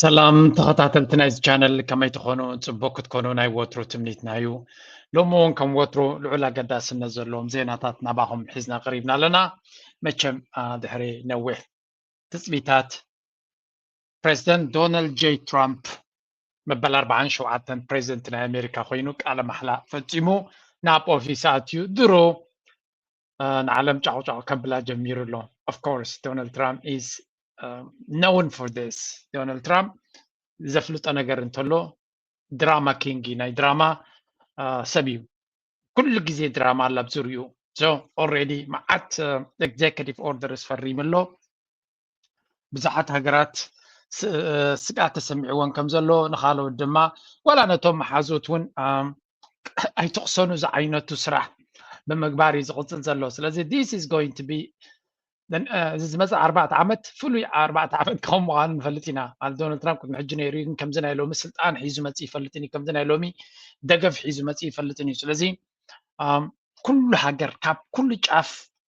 ሰላም ተኸታተልቲ ናይዚ ቻነል ከመይ ትኾኑ ፅቡቅ ክትኮኑ ናይ ወትሩ ትምኒትና እዩ ሎሚ እውን ከም ወትሩ ልዑል ኣገዳስነት ዘለዎም ዜናታት ናባኹም ሒዝና ቀሪብና ኣለና መቸም ድሕሪ ነዊሕ ትፅቢታት ፕሬዚደንት ዶናልድ ጀይ ትራምፕ መበል ኣርብዓን ሸውዓተን ፕሬዚደንት ናይ ኣሜሪካ ኮይኑ ቃለ ማሕላ ፈፂሙ ናብ ኦፊስ ኣትዩ ድሮ ንዓለም ጫቑጫቑ ከብላ ጀሚሩ ኣሎ ኦፍኮርስ ዶናልድ ትራምፕ ኢዝ ነውን ፎር ስ ዶናልድ ትራምፕ ዘፍልጦ ነገር እንተሎ ድራማ ኪንግ ናይ ድራማ ሰብ እዩ ኩሉ ግዜ ድራማ ኣላ ኣብ ዝርኡ ኦልሬዲ መዓት ኤግዜክቲቭ ኦርደርስ ፈሪሙ ኣሎ ብዙሓት ሃገራት ስግኣት ተሰሚዕዎን ከም ዘሎ ንካልኦት ድማ ዋላ ነቶም መሓዙት እውን ኣይትቕሰኑ ዝዓይነቱ ስራሕ ብምግባር እዩ ዝቕፅል ዘሎ ስለዚ ዲስ ኢዝ ጎይንግ ቱ ቢ እዚ ዝመፅእ ኣርባዕተ ዓመት ፍሉይ ኣርባዕተ ዓመት ክኸውን ምዃኑ ንፈልጥ ኢና ማለት ዶናልድ ትራምፕ ቅድሚ ሕጂ ነይሩ ግን ከምዚ ናይ ሎሚ ስልጣን ሒዙ መፅ ይፈልጥን እዩ ከምዚ ናይ ሎሚ ደገፍ ሒዙ መፅ ይፈልጥን እዩ ስለዚ ኩሉ ሃገር ካብ ኩሉ ጫፍ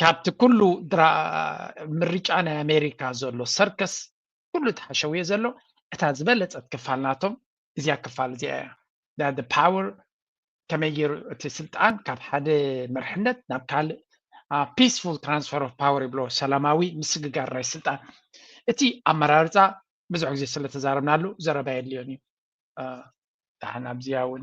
ካብቲ ኩሉ ምርጫ ናይ ኣሜሪካ ዘሎ ሰርከስ ኩሉ እቲ ሓሸውየ ዘሎ እታ ዝበለፀት ክፋል ናቶም እዚኣ ክፋል እዚኣ እያ ዳደ ፓወር ከመይ ገይሩ እቲ ስልጣን ካብ ሓደ መርሕነት ናብ ካልእ ፒስፉል ትራንስፈር ኦፍ ፓወር ይብሎ ሰላማዊ ምስግጋር ናይ ስልጣን እቲ ኣመራርፃ ብዙሕ ግዜ ስለተዛረብናሉ ዘረባ የድልዮን እዩ ዳሓን ኣብዚኣ እውን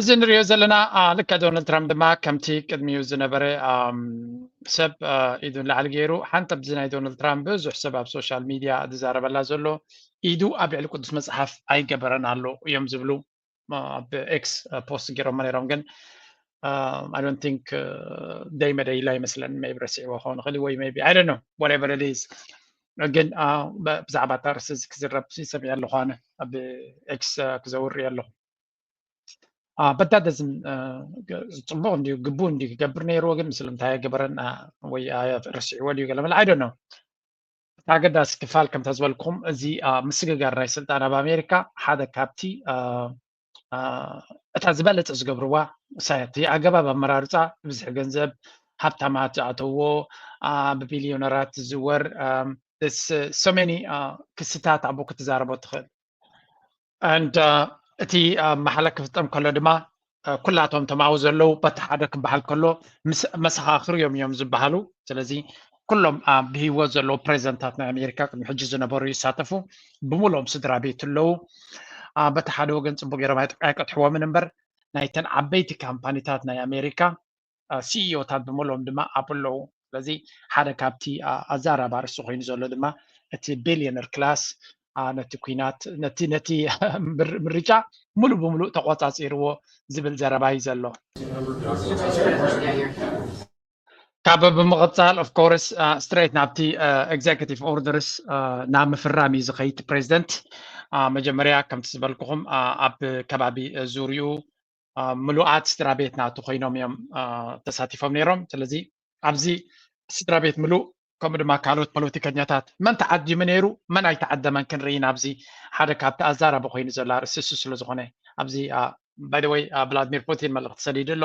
እዚ ንሪኦ ዘለና ልክዕ ዶናልድ ትራምፕ ድማ ከምቲ ቅድሚኡ ዝነበረ ሰብ ኢዱ ንላዕሊ ገይሩ ሓንቲ ኣብዚ ናይ ዶናልድ ትራምፕ ብዙሕ ሰብ ኣብ ሶሻል ሚድያ ዝዛረበላ ዘሎ ኢዱ ኣብ ልዕሊ ቅዱስ መፅሓፍ ኣይገበረን ኣሎ እዮም ዝብሉ ኣብ ኤክስ ፖስት ገይሮሞ ነይሮም ግን ኣይ ዶንት ቲንክ ደይ መደይ ኢላ ይመስለን ሜይ ቢ ረሲዕዎ ክኸውን ይኽእል ወይ ሜይ ቢ ኣይ ዶንት ኖ ዋትኤቨር ኢት ኢዝ ግን ብዛዕባ እታ ርእሲ እዚ ክዝረብ ሰሚዐ ኣለኹ ኣነ ኣብ ኤክስ ክዘውር እየ ኣለኹ በታ ደዝም ፅቡቅ እንዲዩ ግቡእ እንዲዩ ክገብር ነይርዎ ግን ምስልምታይ ኣይገበረን ወይ ረሲዕዎ ድዩ ገለ መለ ኣይዶ ነው እቲ ኣገዳሲ ክፋል ከምታ ዝበልኩም እዚ ምስግጋር ናይ ስልጣን ኣብ ኣሜሪካ ሓደ ካብቲ እታ ዝበለፀ ዝገብርዋ ሳያቲ ኣገባብ ኣመራርፃ ብዝሒ ገንዘብ ሃብታማት ዝኣተዎ ብቢልዮነራት ዝዝወር ሰሜኒ ክስታት ኣብኡ ክትዛረቦ ትኽእል ንድ እቲ መሓለ ክፍፀም ከሎ ድማ ኩላቶም ተማዊ ዘለዉ በቲ ሓደ ክበሃል ከሎ መሰኻኽር እዮም እዮም ዝበሃሉ ስለዚ ኩሎም ብሂወት ዘለዉ ፕሬዚደንታት ናይ ኣሜሪካ ቅድሚ ሕጂ ዝነበሩ ይሳተፉ ብምሎም ስድራ ቤት ኣለዉ በቲ ሓደ ወገን ፅቡቅ ገይሮም ኣይቀጥሕዎምን እምበር ናይተን ዓበይቲ ካምፓኒታት ናይ ኣሜሪካ ሲኢኦታት ብምሎም ድማ ኣብ ኣለዉ ስለዚ ሓደ ካብቲ ኣዛራብ ኣርሲ ኮይኑ ዘሎ ድማ እቲ ቢልዮነር ክላስ ነቲ ኩናት ነቲ ነቲ ምርጫ ሙሉ ብምሉእ ተቆፃፂርዎ ዝብል ዘረባ እዩ ዘሎ ካብ ብምቕፃል ኦፍ ኮርስ ስትሬት ናብቲ ኤግዜኪቲቭ ኦርደርስ ናብ ምፍራም እዩ ዝኸይድ ፕሬዚደንት መጀመርያ ከምቲ ዝበልኩኹም ኣብ ከባቢ ዙርኡ ምሉኣት ስድራ ቤት ናቱ ኮይኖም እዮም ተሳቲፎም ነይሮም ስለዚ ኣብዚ ስድራ ቤት ምሉእ ከምኡ ድማ ካልኦት ፖለቲከኛታት መን ተዓዲሙ ነይሩ መን ኣይተዓደመን ክንርኢ ናብዚ ሓደ ካብቲ ኣዛራቢ ኮይኑ ዘሎ ኣርእስቲ እሱ ስለዝኾነ ኣብዚ ባይደወይ ቭላድሚር ፑቲን መልእኽቲ ሰዲዱ ኣሎ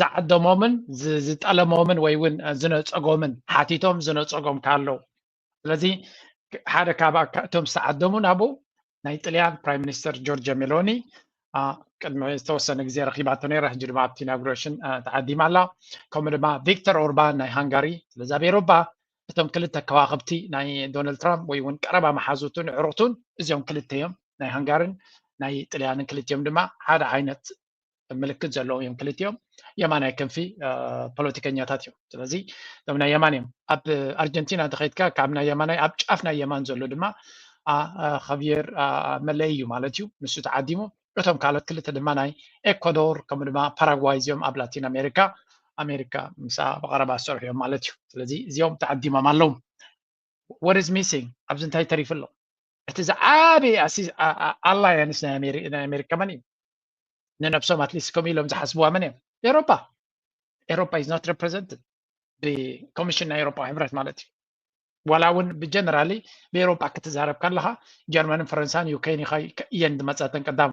ዝዓደሞምን ዝጠለሞምን ወይ እውን ዝነፀጎምን ሓቲቶም ዝነፀጎም ካለው ስለዚ ሓደ ካብ እቶም ዝተዓደሙ ናብኡ ናይ ጥልያን ፕራይም ሚኒስተር ጆርጅ ሜሎኒ ቅድሚ ዝተወሰነ ግዜ ረኪባቶ ነይራ ሕጂ ድማ ኣብቲ ኢናጉሬሽን ተዓዲማ ኣላ ከምኡ ድማ ቪክተር ኦርባን ናይ ሃንጋሪ ስለዚ ኣብ ኤሮፓ እቶም ክልተ ከዋክብቲ ናይ ዶናልድ ትራምፕ ወይ እውን ቀረባ መሓዙቱን ዕሩክቱን እዚኦም ክልተ እዮም ናይ ሃንጋርን ናይ ጥልያንን ክልቲኦም ድማ ሓደ ዓይነት ምልክት ዘለዎም እዮም ክልቲኦም የማናይ ክንፊ ፖለቲከኛታት እዮም ስለዚ እዞም ናይ የማን እዮም ኣብ ኣርጀንቲና ተኸይድካ ካብ ናይ የማናይ ኣብ ጫፍ ናይ የማን ዘሎ ድማ ኸብየር መለይ እዩ ማለት እዩ ንሱ ተዓዲሙ እቶም ካልኦት ክልተ ድማ ናይ ኤኳዶር ከምኡ ድማ ፓራጓይ እዚኦም ኣብ ላቲን ኣሜሪካ ኣሜሪካ ምስ ብቀረባ ዝሰርሑ እዮም ማለት እዩ ስለዚ እዚኦም ተዓዲሞም ኣለዉ what is missing ኣብዚ እንታይ ተሪፉ ኣሎ እቲ ዝዓበየ ኣላያንስ ናይ ኣሜሪካ መን እዩ ንነብሶም ኣትሊስት ከምኡ ኢሎም ዝሓስብዋ መን እዮም ኤሮፓ ኤሮፓ ኢዝ ኖት ሬፕሬዘንትድ ብኮሚሽን ናይ ኤሮፓ ሕብረት ማለት እዩ ዋላ እውን ብጀነራሊ ብኤሮፓ ክትዛረብ ከለካ ጀርመንን ፈረንሳን ዩክሬን እየን ዝመፀተን ቀዳሙ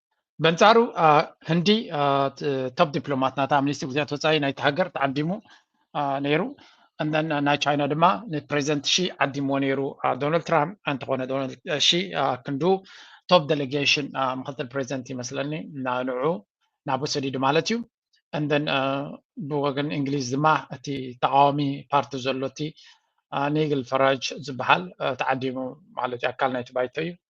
በንጻሩ ህንዲ ቶፕ ዲፕሎማት ናታ ሚኒስትሪ ጉዳያት ወፃኢ ናይቲ ሃገር ተዓዲሙ ነይሩ ናይ ቻይና ድማ ንፕሬዚደንት ሺ ዓዲምዎ ነይሩ ዶናልድ ትራምፕ እንተኾነ ዶናልድ ሺ ክንዱ ቶፕ ዴሌጌሽን ምክትል ፕሬዚደንት ይመስለኒ ንዑ ናብ ሰዲዱ ማለት እዩ እንደን ብወገን እንግሊዝ ድማ እቲ ተቃዋሚ ፓርቲ ዘሎ እቲ ኒግል ፈራጅ ዝበሃል ተዓዲሙ ማለት እዩ ኣካል ናይቲ ባይቶ እዩ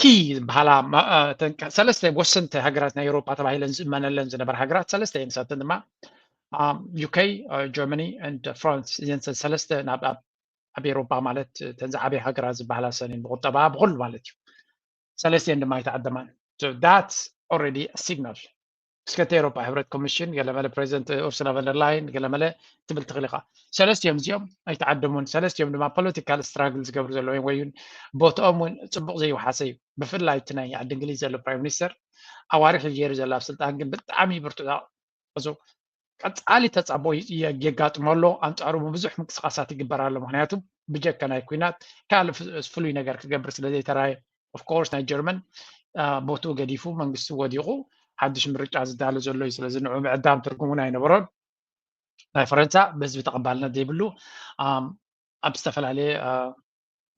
ኪ ዝበሃላ ሰለስተ ወሰንቲ ሃገራት ናይ ኤውሮጳ ተባሂለን ዝእመነለን ዝነበራ ሃገራት ሰለስተ እየን ንሳተን ድማ ዩከይ ጀርመኒ ን ፍራንስ እዘን ሰለስተ ናብ ኣብ ኤውሮጳ ማለት ተን ዝዓበየ ሃገራት ዝበሃላ ሰን እየን ብቁጠባ ብኩሉ ማለት እዩ ሰለስተ እየን ድማ ኣይተዓደማን ዳት ኦረዲ ሲግናል እስከቲ ኤሮፓ ሕብረት ኮሚሽን ገለመለ ፕሬዚደንት ኡርሱላ ቨንደርላይን ገለመለ ትብል ትኽእል ኢኻ ሰለስትኦም እዚኦም ኣይተዓደሙን ሰለስትኦም ድማ ፖለቲካል ስትራግል ዝገብሩ ዘለዉ ወይ ቦትኦም እውን ፅቡቅ ዘይውሓሰ እዩ ብፍላይ እቲ ናይ ዓዲ እንግሊዝ ዘሎ ፕራይም ሚኒስተር ኣዋርሕ ገይሩ ዘሎ ኣብ ስልጣን ግን ብጣዕሚ ብርቱዕ እዚ ቀጻሊ ተጻቦ የጋጥሞ ኣሎ፣ ኣንጻሩ ብብዙሕ ምንቅስቓሳት ይግበር ኣሎ፣ ምክንያቱ ብጀካ ናይ ኩናት ካልእ ፍሉይ ነገር ክገብር ስለ ዘይተራየ ኦፍኮርስ ናይ ጀርመን ቦትኡ ገዲፉ መንግስቲ ወዲቑ ሓድሽ ምርጫ ዝዳሎ ዘሎ እዩ ስለዚ ንዑ ምዕዳም ትርጉም እውን ኣይነበሮን ናይ ፈረንሳ ብህዝቢ ተቐባልነት ዘይብሉ ኣብ ዝተፈላለየ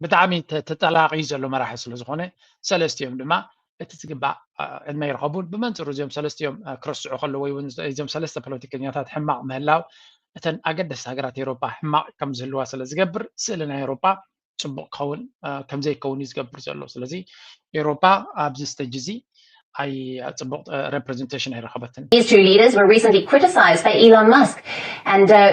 ብጣዕሚ ተጠላቂ ዘሎ መራሒ ስለ ዝኾነ ሰለስቲኦም ድማ እቲ ዝግባእ ዕድመ ይረኸቡን ብመንፅሩ እዚኦም ሰለስቲኦም ክረስዑ ከለዎ ወይ እውን እዞም ሰለስተ ፖለቲከኛታት ሕማቕ ምህላው እተን ኣገደስቲ ሃገራት ኤሮፓ ሕማቕ ከም ዝህልዋ ስለ ዝገብር ስእሊ ናይ ኤሮፓ ፅቡቅ ክኸውን ከም ዘይከውን እዩ ዝገብር ዘሎ ስለዚ ኤሮፓ ኣብዚ ስተጅ እዚ ኣይ ፅቡቅ ሬፕሬዘንቴሽን ኣይረኸበትን These two leaders were recently criticized by Elon Musk and uh,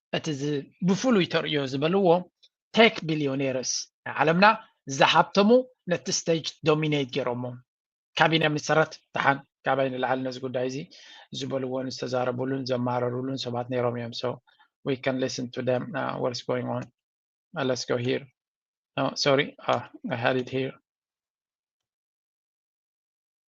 እቲ ብፍሉይ ተርእዮ ዝበልዎ ቴክ ቢልዮኔርስ ናይ ዓለምና ዝሃብተሙ ነቲ ስቴጅ ዶሚኔት ገይሮሞ። ካቢነ መሰረት ደሓን ካባይ ንላዕሊ ነዚ ጉዳይ እዚ ዝበልዎን ዝተዛረብሉን ዘማረርሉን ሰባት ነይሮም እዮም so we can listen to them uh, what's going on uh, let's go here no sorry uh, I had it here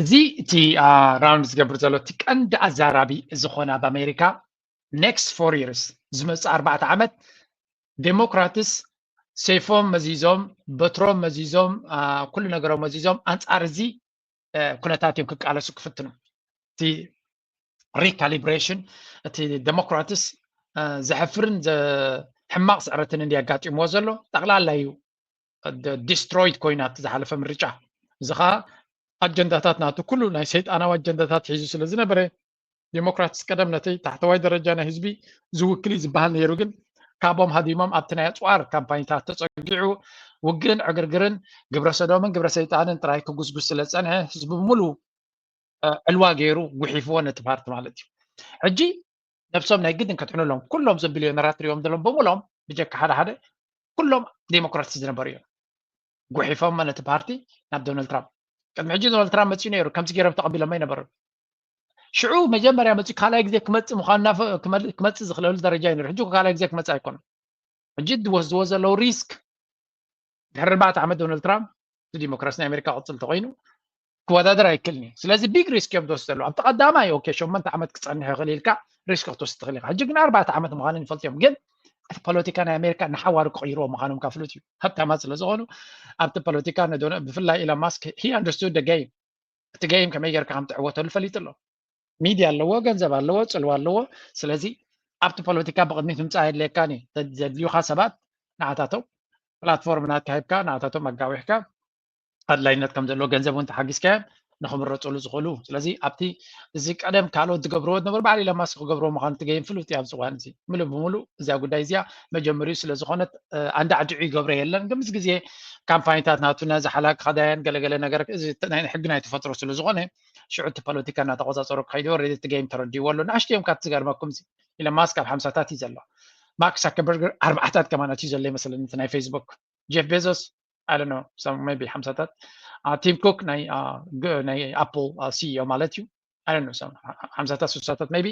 እዚ እቲ ራውንድ ዝገብር ዘሎ እቲ ቀንዲ ኣዛራቢ ዝኾነ ኣብ ኣሜሪካ ኔክስት ፎር ይርስ ዝመፅእ ኣርባዕተ ዓመት ዴሞክራትስ ሰይፎም መዚዞም በትሮም መዚዞም ኩሉ ነገሮም መዚዞም ኣንፃር እዚ ኩነታት እዮም ክቃለሱ ክፍትኑ እቲ ሪካሊብሬሽን እቲ ዴሞክራትስ ዘሕፍርን ሕማቕ ስዕረትን እንዲ ኣጋጢምዎ ዘሎ ጠቕላላ እዩ ዲስትሮይድ ኮይና እቲ ዝሓለፈ ምርጫ እዚ ከዓ ኣጀንዳታት ናቱ ኩሉ ናይ ሰይጣናዊ ኣጀንዳታት ሒዙ ስለ ዝነበረ ዲሞክራትስ ቀደም ነቲ ታሕተዋይ ደረጃ ናይ ህዝቢ ዝውክል እዩ ዝበሃል ነይሩ ግን ካቦም ሃዲሞም ኣብቲ ናይ ኣፅዋር ካምፓኝታት ተፀጊዑ ውግእን ዕግርግርን ግብረ ሰዶምን ግብረ ሰይጣንን ጥራይ ክጉስጉስ ስለ ዝፀንሐ ህዝቢ ብምሉ ዕልዋ ገይሩ ጉሒፍዎ ነቲ ፓርቲ ማለት እዩ ሕጂ ነብሶም ናይ ግድን ከድሕኑ ኣለዎም ኩሎም እዞም ቢልዮነራት ትሪኦም ዘለዎም ብምሎም ብጀካ ሓደ ሓደ ኩሎም ዴሞክራሲ ዝነበሩ እዮም ጉሒፎሞ ነቲ ፓርቲ ናብ ዶናልድ ትራምፕ ቅድሚ ሕጂ ዶናልድ ትራምፕ መፅኡ ነይሩ ከምዚ ገይሮም ተቐቢሎሞ ይነበሩ ሽዑ መጀመርያ መፅኡ ካልኣይ ግዜ ክመፅእ ምኳኑ ክመፅእ ዝኽለሉ ደረጃ እዩ ነይሩ ሕጂ ካልኣይ ግዜ ክመፅእ ኣይኮነን ሕጂ ዝወስድዎ ዘለዉ ሪስክ ድሕሪ ኣርባዕተ ዓመት ዶናልድ ትራምፕ እቲ ዲሞክራሲ ናይ ኣሜሪካ ቅፅል ተኮይኑ ክወዳደር ኣይክእልን እዩ ስለዚ ቢግ ሪስክ እዮም ዝወስድ ዘለዉ ኣብቲ ቀዳማይ ኦኬ ሸመንተ ዓመት ክፀንሕ ይኽእል ኢልካ ሪስክ ክትወስድ ትኽእል ኢኻ ሕጂ ግን ኣርባዕተ ዓመት ምዃንን ይፈልጡ እዮም ግን እቲ ፖለቲካ ናይ ኣሜሪካ ንሓዋሩ ክቕይርዎ ምዃኖም ካብ ፍሉጥ እዩ ሃብታማት ስለ ዝኾኑ ኣብቲ ፖለቲካ ብፍላይ ኢሎን ማስክ ሂ ኣንደርስቱድ ደ ገይም እቲ ገይም ከመይ ጌርካ ከም ትዕወተሉ ፈሊጡ ኣሎ ሚድያ ኣለዎ ገንዘብ ኣለዎ ፅልዋ ኣለዎ ስለዚ ኣብቲ ፖለቲካ ብቕድሚት ምምፃእ የድልየካን እዩ ዘድልዩካ ሰባት ንዓታቶም ፕላትፎርም ናትካ ሂብካ ንዓታቶም ኣጋዊሕካ ኣድላይነት ከም ዘለዎ ገንዘብ እውን ተሓጊዝካዮም ንክምረፅሉ ዝኽእሉ ስለዚ ኣብቲ እዚ ቀደም ካልኦት ዝገብርዎ ዝነበሩ ባዕሉ ኢሎን ማስክ ክገብርዎ ምዃኑ ትገይም ፍሉጥ እዩ ኣብዚ እዋን እዚ ምሉእ ብምሉእ እዚኣ ጉዳይ እዚኣ መጀመሪኡ ስለ ዝኾነት ኣንዳዕድዑ ይገብሮ የለን ግን ምስ ግዜ ካምፓኒታት ናቱ ነዚ ሓላ ክኸዳየን ገለገለ ነገር እዚ ናይ ሕጊ ናይ ተፈጥሮ ስለ ዝኾነ ሽዑ እቲ ፖለቲካ እናተቆፃፀሩ ክኸይዱ ወረድ እቲ ገይም ተረድዎ ኣሎ ንኣሽቱ እዮም ካብቲ ዝገርመኩም ኢለን ማስክ ኣብ ሓምሳታት እዩ ዘሎ ማርክ ሳከበርገር ኣርባዕታት ከማናት እዩ ዘሎ ይመስለኒ እቲ ናይ ፌስቡክ ጀፍ ቤዞስ ኣለ ቢ ሓምሳታት ቲም ኩክ ናይ ኣፕል ሲኢኦ ማለት እዩ ኣይ ዶንት ኖ ሰም ሓምሳታት ስሳታት ሜይቢ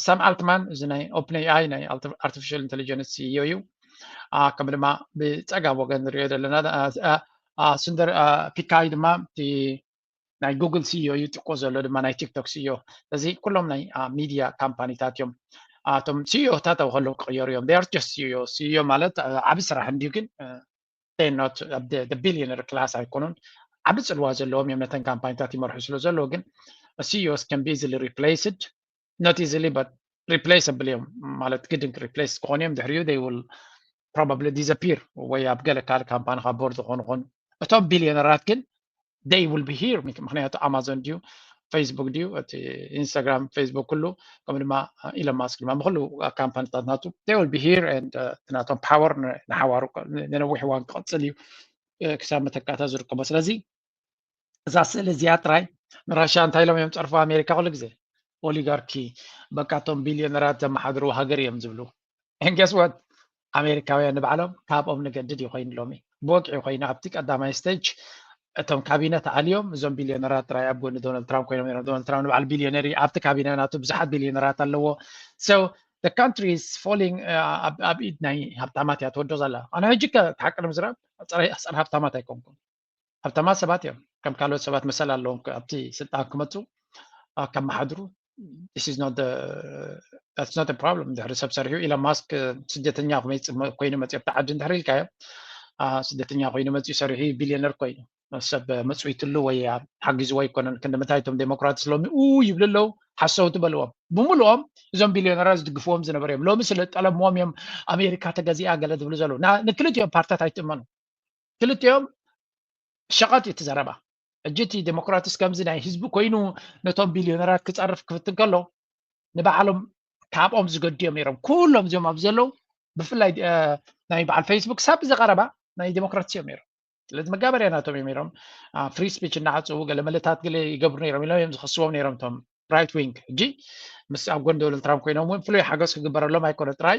ሳም ኣልትማን እዚ ናይ ኦፕን ኤኣይ ናይ ኣርቲፊሻል ኢንቴሊጀንስ ሲኢኦ እዩ ከምኡ ድማ ብፀጋብ ወገን ንሪኦ ዘለና ስንደር ፒካይ ድማ እቲ ናይ ጉግል ሲኢኦ እዩ ጥቆ ዘሎ ድማ ናይ ቲክቶክ ሲኢኦ እዚ ኩሎም ናይ ሚድያ ካምፓኒታት እዮም እቶም ሲኢኦታት ኣብ ከለዉ ክቕየሩ እዮም ር ጀስት ሲኢኦ ሲኢኦ ማለት ዓብ ስራሕ እንድዩ ግን ኖት ቢልዮነር ክላስ ኣይኮኑን ዓቢ ፅልዋ ዘለዎም እዮም ነተን ካምፓኒታት ይመርሑ ስለ ዘለዉ ግን ሲዮስ ከን ቢዝሊ ሪፕሌስድ ኖት ኢዝሊ በት ሪፕሌሰብል እዮም ማለት ግድን ሪፕሌስ ክኾኑ እዮም ድሕሪኡ ይ ውል ፕሮባብሊ ዲዘፒር ወይ ኣብ ገለ ካልእ ካምፓኒ ካብ ቦርድ ዝኾኑ ኾኑ እቶም ቢልዮነራት ግን they will be here ምክንያቱ ኣማዞን ድዩ ፌስቡክ ድዩ እቲ ኢንስታግራም ፌስቡክ ኩሉ ከምኡ ድማ ኢሎን ማስክ ድማ ንኩሉ ካምፓኒታት ናቱ they will be here and እቲ ናቶም ፓወር ንሓዋሩ ንነዊሕ እዋን ክቕፅል እዩ ክሳብ መተካእታ ዝርከቦ ስለዚ እዛ ስእሊ እዚኣ ጥራይ ንራሻ እንታይ ኢሎም እዮም ፀርፎ ኣሜሪካ ኩሉ ግዜ ኦሊጋርኪ በቃ እቶም ቢልዮነራት ዘመሓድሩ ሃገር እዮም ዝብሉ ንገስወት ኣሜሪካውያን ንባዕሎም ካብኦም ንገድድ እዩ ኮይኑ ሎሚ ብወግዒ ኮይኑ ኣብቲ ቀዳማይ ስተጅ እቶም ካቢነ ተኣልዮም እዞም ቢልዮነራት ጥራይ ኣብ ጎኒ ዶናልድ ትራምፕ ኮይኖም ነሮም ዶናልድ ትራምፕ ንበዓል ቢልዮነር እዩ ኣብቲ ካቢነ ናቱ ብዙሓት ቢልዮነራት ኣለዎ ሶ the country is falling ኣብ ኢድ ናይ ሃብታማት እያ ተወዶ ዘላ ኣነ ሕጂ ከ ሓቂ ንምዝራብ ፀረ ሃብታማት ኣይኮንኩም ሃብታማት ሰባት እዮም ከም ካልኦት ሰባት መሰል ኣለዎም ኣብቲ ስልጣን ክመፁ ከመሓድሩ ፕሮብለም ድሕሪ ሰብ ሰሪሑ ኢሎን ማስክ ስደተኛ ኮይኑ መፅኡ ኣብቲ ዓዲ እንድሕር ኢልካዮ ስደተኛ ኮይኑ መፅኡ ሰሪሑ ቢልዮነር ኮይኑ ሰብ መፅዊትሉ ወይ ሓጊዝዎ ኣይኮነን ክንዲ ምንታይ እቶም ዴሞክራትስ ሎሚ ኡ ይብሉ ኣለው ሓሰውቲ በልዎም ብምሉኦም እዞም ቢልዮነራት ዝድግፍዎም ዝነበሩ እዮም ሎሚ ስለ ጠለምዎም እዮም ኣሜሪካ ተገዚኣ ገለ ዝብሉ ዘለዉ ንክልቲኦም ፓርትታት ኣይትእመኑ ክልቲኦም ሸቐጥ እዩ እቲ ዘረባ ሕጂ እቲ ዴሞክራትስ ከምዚ ናይ ህዝቢ ኮይኑ ነቶም ቢልዮነራት ክፀርፍ ክፍትን ከሎ ንባዕሎም ካብኦም ዝገድዮም ነይሮም ኩሎም እዚኦም ኣብ ዘለዉ ብፍላይ ናይ በዓል ፌስቡክ ሳብ ዝቐረባ ናይ ዴሞክራትስ እዮም ነይሮም ስለዚ መጋበርያ ናቶም እዮም ነይሮም ፍሪ ስፒች እናዓፅዉ ገለ መለታት ገለ ይገብሩ ነይሮም ኢሎም እዮም ዝኸስዎም ነይሮም እቶም ራይት ዊንግ ሕጂ ምስ ኣብ ጎን ዶናልድ ትራምፕ ኮይኖም እውን ፍሉይ ሓገዝ ክግበረሎም ኣይኮነ ጥራይ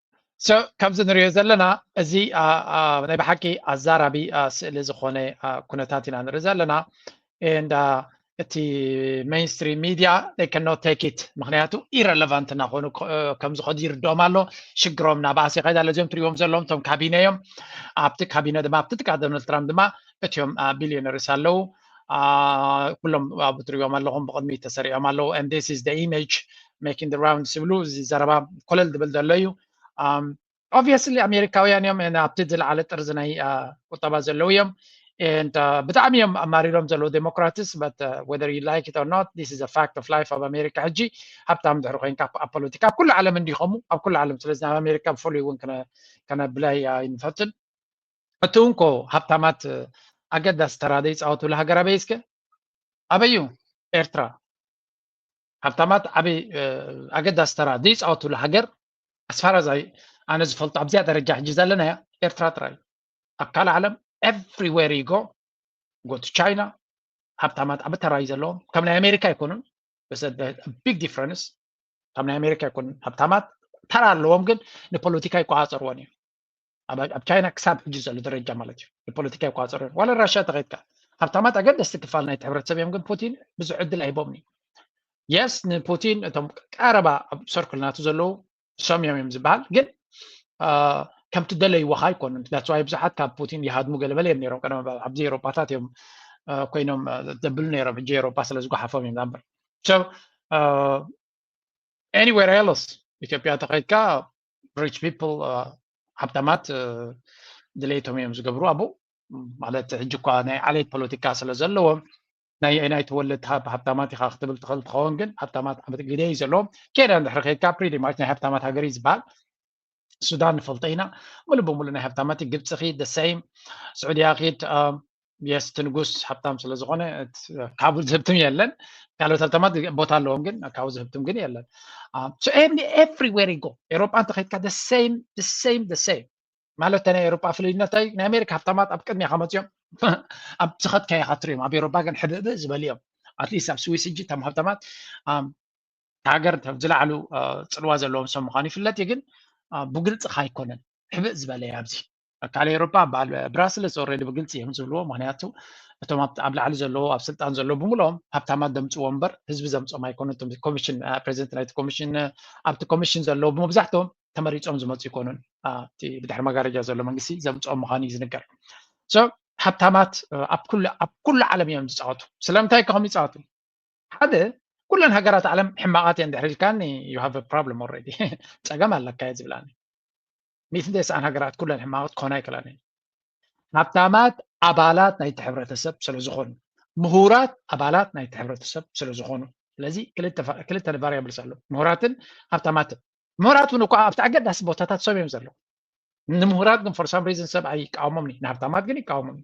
ከምዚ ንሪኦ ዘለና እዚ ናይ ብሓቂ ኣዛራቢ ስእሊ ዝኾነ ኩነታት ኢና ንርኢ ዘለና ኤንድ እቲ ሜይንስትሪ ሚድያ ከኖ ቴክ ኢት ምክንያቱ ኢረለቫንት እናኾኑ ከም ዝኸዱ ይርድኦም ኣሎ ሽግሮም ናብኣስ ይኸይድ ኣሎ እዚኦም ትሪዎም ዘለዎም እቶም ካቢነ እዮም ኣብቲ ካቢነ ድማ ኣብቲ ጥቃ ዶናልድ ትራምፕ ድማ እትዮም ቢልዮነርስ ኣለዉ ኩሎም ኣብ ትሪኦም ኣለኹም ብቕድሚት ተሰሪዖም ኣለዉ and this is the image making the rounds ዝብሉ እዚ ዘረባ ኮለል ዝብል ዘሎ እዩ obviously ኣሜሪካውያን እዮም ኣብቲ ዝለዓለ ጥርዚ ናይ ቁጠባ ዘለዉ እዮም and ብጣዕሚ እዮም ኣማሪሮም ዘለዉ ዴሞክራትስ but whether you like it or not this is a fact of life ኣብ ኣሜሪካ ሕጂ ሃብታም ድሕሪ ኮንካ ኣብ ፖለቲካ ኣብ ኩሉ ዓለም እንዲኸሙ ኣብ ኩሉ ዓለም ስለዚ ኣብ ኣሜሪካ ብፍሉይ እውን ከነብላይ ኣይንፈትን እቲ እንኮ ሃብታማት ኣገዳሲ ተራ ዘይፃወትሉ ሃገር ኣበይ እስከ ኣበይ እዩ ኤርትራ ሃብታማት ዓበይ ኣገዳሲ ተራ ዘይፃወትሉ ሃገር ኣስፋራዛይ ኣነ ዝፈልጦ ኣብዚኣ ደረጃ ሕጂ ዘለናያ ኤርትራ ጥራይ ኣብ ካልእ ዓለም ኤቭሪዌር ይጎ ጎቱ ቻይና ሃብታማት ዓብ ተራ እዩ ዘለዎም ከም ናይ ኣሜሪካ ኣይኮኑን ቢግ ዲፍረንስ ካብ ናይ ኣሜሪካ ኣይኮኑን ሃብታማት ተራ ኣለዎም ግን ንፖለቲካ ይቆፃፀርዎን እዩ ኣብ ቻይና ክሳብ ሕጂ ዘሎ ደረጃ ማለት እዩ ንፖለቲካ ይቋፀሩ እዮም ዋላ ራሽያ ተኸይድካ ሃብታማት ኣገደስቲ ክፋል ናይቲ ሕብረተሰብ እዮም ግን ፑቲን ብዙሕ ዕድል ኣይቦም እዩ የስ ንፑቲን እቶም ቀረባ ኣብ ሰርክል ናቱ ዘለዉ ሰም እዮም እዮም ዝበሃል ግን ከምቲ ደለይዎካ ኣይኮኑን ዳስዋይ ብዙሓት ካብ ፑቲን ይሃድሙ ገለበለ እዮም ነሮም ቀደም ኣብዚ ኤሮፓታት እዮም ኮይኖም ዘብሉ ነሮም ሕጂ ኤሮፓ ስለ ዝጓሓፎም እዮም ዛምበር ኤኒዌር ኤሎስ ኢትዮጵያ ተኸይድካ ሪች ፒፕል ሃብታማት ድሌቶም እዮም ዝገብሩ ኣብኡ ማለት ሕጂ እኳ ናይ ዓሌት ፖለቲካ ስለ ዘለዎም ናይ ናይ ተወለድቲ ሃብታማት ኢካ ክትብል ትኽእል ትኸውን ግን ሃብታማት ዓመት ግደ እዩ ዘለዎም ኬንያ እንድሕሪ ከይድካ ፕሪቲ ማች ናይ ሃብታማት ሃገር እዩ ዝበሃል ሱዳን ንፈልጦ ኢና ሙሉእ ብሙሉእ ናይ ሃብታማት ግብፂ ኪድ ደሰይም ስዑድያ ኪድ የስ እቲ ንጉስ ሃብታም ስለ ዝኾነ ካብኡ ዝህብትም የለን ካልኦት ሃብታማት ቦታ ኣለዎም ግን ካብኡ ዝህብትም ግን የለን ኤቭሪዌር ይጎ ኤሮጳ እንተኸይድካ ደሰይም ደሰይም ደሰይም ማለት ናይ ኤሮጳ ፍልዩነት ናይ ኣሜሪካ ሃብታማት ኣብ ቅድሚኻ መፅኦም ኣብ ዝኸትካዮ ኢኻ ትሪኦም ኣብ ኤሮጳ ግን ሕብእብእ ዝበሉ እዮም ኣትሊስት ኣብ ስዊስ እጂ እቶም ሃብታማት ሃገር ዝለዓሉ ፅልዋ ዘለዎም ሰብ ምዃኑ ይፍለጥ እዩ ግን ብግልፅኻ ኣይኮነን ሕብእ ዝበለ ኣብዚ ኣካል ኤሮፓ በዓል ብራስለስ ኦረዲ ብግልፂ እዮም ዝብልዎ ምክንያቱ እቶም ኣብ ላዕሊ ዘለዎ ኣብ ስልጣን ዘለዎ ብምልኦም ሃብታማት ዘምፅዎ እምበር ህዝቢ ዘምፆም ኣይኮኑ ኮሚሽን ፕሬዚደንት ናይቲ ኮሚሽን ኣብቲ ኮሚሽን ዘለዎ መብዛሕትኦም ተመሪፆም ዝመፁ ይኮኑን እቲ ብድሕሪ መጋረጃ ዘሎ መንግስቲ ዘምፅኦም ምዃኑ እዩ ዝንገር ሃብታማት ኣብ ኩሉ ዓለም እዮም ዝፃወቱ ስለምንታይ ከኸም ይፃወቱ ሓደ ኩለን ሃገራት ዓለም ሕማቓት እየን ድሕሪ ኢልካኒ ዩ ሃቭ ፕሮብለም ኦልሬዲ ፀገም ኣለካ እየ ዝብላኒ ሚእቲ ተስዓን ሃገራት ኩለን ሕማቕት ክኾና ኣይክእላን እየን ሃብታማት ኣባላት ናይቲ ሕብረተሰብ ስለ ዝኾኑ ምሁራት ኣባላት ናይቲ ሕብረተሰብ ስለ ዝኾኑ ስለዚ ክልተ ቫሪያብልስ ኣሎ ምሁራትን ሃብታማትን ምሁራት እውን እኳ ኣብቲ ኣገዳሲ ቦታታት ሰብ እዮም ዘለዉ ንምሁራት ግን ፎር ሳም ሪዝን ሰብ ኣይቃወሞም ንሃብታማት ግን ይቃወሞም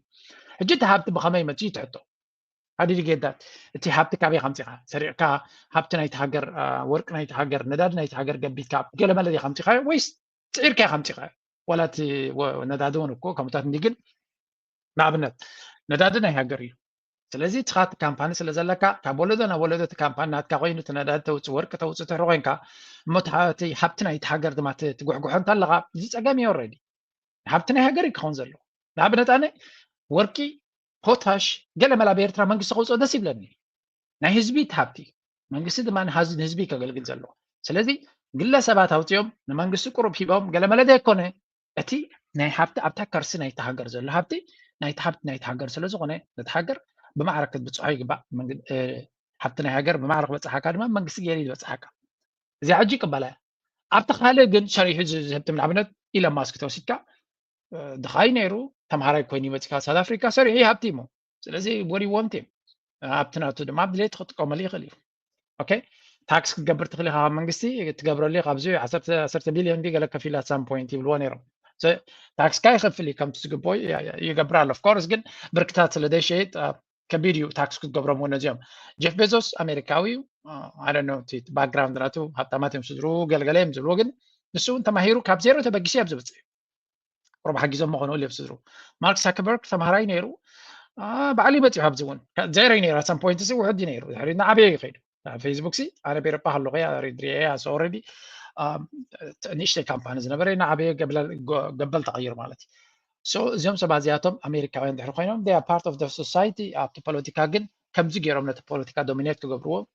ሕጂ እቲ ሃብቲ ብኸመይ መፅኡ ትሕቶ ሓዲዲ ጌዳት እቲ ሃብቲ ካበይ ከምፂኻ ሰሪቕካ ሃብቲ ናይቲ ሃገር ወርቂ ናይቲ ሃገር ነዳዲ ናይቲ ሃገር ገቢትካ ገለመለ ዲኻ ኣምፂኻዮ ወይስ ፅዒርካ ኢኻ ኣምፂኻዮ ዋላ እቲ ነዳዲ እውን እኮ ከምታት እንዲ ግን ንኣብነት ነዳዲ ናይ ሃገር እዩ ስለዚ ንስኻ እቲ ካምፓኒ ስለ ዘለካ ካብ ወለዶ ናብ ወለዶ እቲ ካምፓኒ ናትካ ኮይኑ እቲ ነዳዲ ተውፅእ ወርቂ ተውፅእ ትሕሪ ኮንካ እሞ እቲ ሃብቲ ናይቲ ሃገር ድማ ትጉሕጉሖ እንተለካ እዚ ፀገም እዩ ረዲ ሃብቲ ናይ ሃገር እዩ ክኸውን ዘለዎ ንኣብነት ኣነ ወርቂ ፖታሽ ገለ መላ ብኤርትራ መንግስቲ ከውፅኦ ደስ ይብለኒ ናይ ህዝቢ እቲ ሃብቲ መንግስቲ ድማ ንህዝቢ ከገልግል ዘለዎ ስለዚ ግለ ሰባት ኣውፅኦም ንመንግስቲ ቁሩብ ሂቦም ገለ መለ ዘይኮነ እቲ ናይ ሃብቲ ኣብታ ከርሲ ናይቲ ሃገር ዘሎ ሃብቲ ናይቲ ሃብቲ ናይቲ ሃገር ስለ ዝኾነ ነቲ ሃገር ብማዕረ ክትብፅሖ ይግባእ ሃብቲ ናይ ሃገር ብማዕረ ክበፅሓካ ድማ መንግስቲ ገይሩ ዝበፅሓካ እዚኣ ሕጂ ይቅበላ እያ ኣብቲ ካልእ ግን ሰሪሑ ዝህብትም ንኣብነት ኢለን ማስክ ተወሲድካ ድኻይ ነይሩ ተምሃራይ ኮይኑ ይመፅካ ሳውት ኣፍሪካ ሰሪሑ ይሃብቲ እሞ ስለዚ ወዲ ወንት ኣብቲ ናቱ ድማ ድሌት ክጥቀመሉ ይኽእል እዩ ኦኬ ታክስ ክትገብር ትኽእል ኢኻ ካብ መንግስቲ ትገብረሉ ኢኻ ኣብዚ ዓሰርተ ቢልዮን ገለ ከፊሉ ኣት ሳም ፖይንት ይብልዎ ነይሮም ታክስካ ይኸፍል እዩ ከምቲ ዝግበኦ ይገብር ኣሎ ኦፍኮርስ ግን ብርክታት ስለ ዘይሸይጥ ከቢድ እዩ ታክስ ክትገብሮም እውን እዚኦም ጀፍ ቤዞስ ኣሜሪካዊ እዩ ኣደነ ባክግራውንድ ናቱ ሃብታማት እዮም ስድሩ ገልገለ እዮም ዝብልዎ ግን ንሱ እውን ተማሂሩ ካብ ዜሮ ተበጊሱ ኣብ ዝበፅሕ እዩ ቁሩብ ሓጊዞሞ ኮኑ እል ስድሩ ማርክ ሳከበርግ ተምሃራይ ነይሩ ባዕሉ ይመፅኡ ኣብዚ እውን ዘይረ ነይሩ ኣሳም ፖይንት ሲ ውሕድ ነይሩ ድሕሪ ናዓበየ እዩ ከይዱ ፌስቡክ ሲ ኣነ ቤረጳ ከለኩ ሪድሪኤ ኣስ ኦረዲ ንእሽተይ ካምፓኒ ዝነበረ ናዓበየ ገበል ተቐይሩ ማለት እዩ ሶ እዚኦም ሰባት እዚኣቶም ኣሜሪካውያን ድሕሪ ኮይኖም ፓርት ኦፍ ሶሳይቲ ኣብቲ ፖለቲካ ግን ከምዚ ገይሮም ነቲ ፖለቲካ ዶሚኔት ክገብርዎ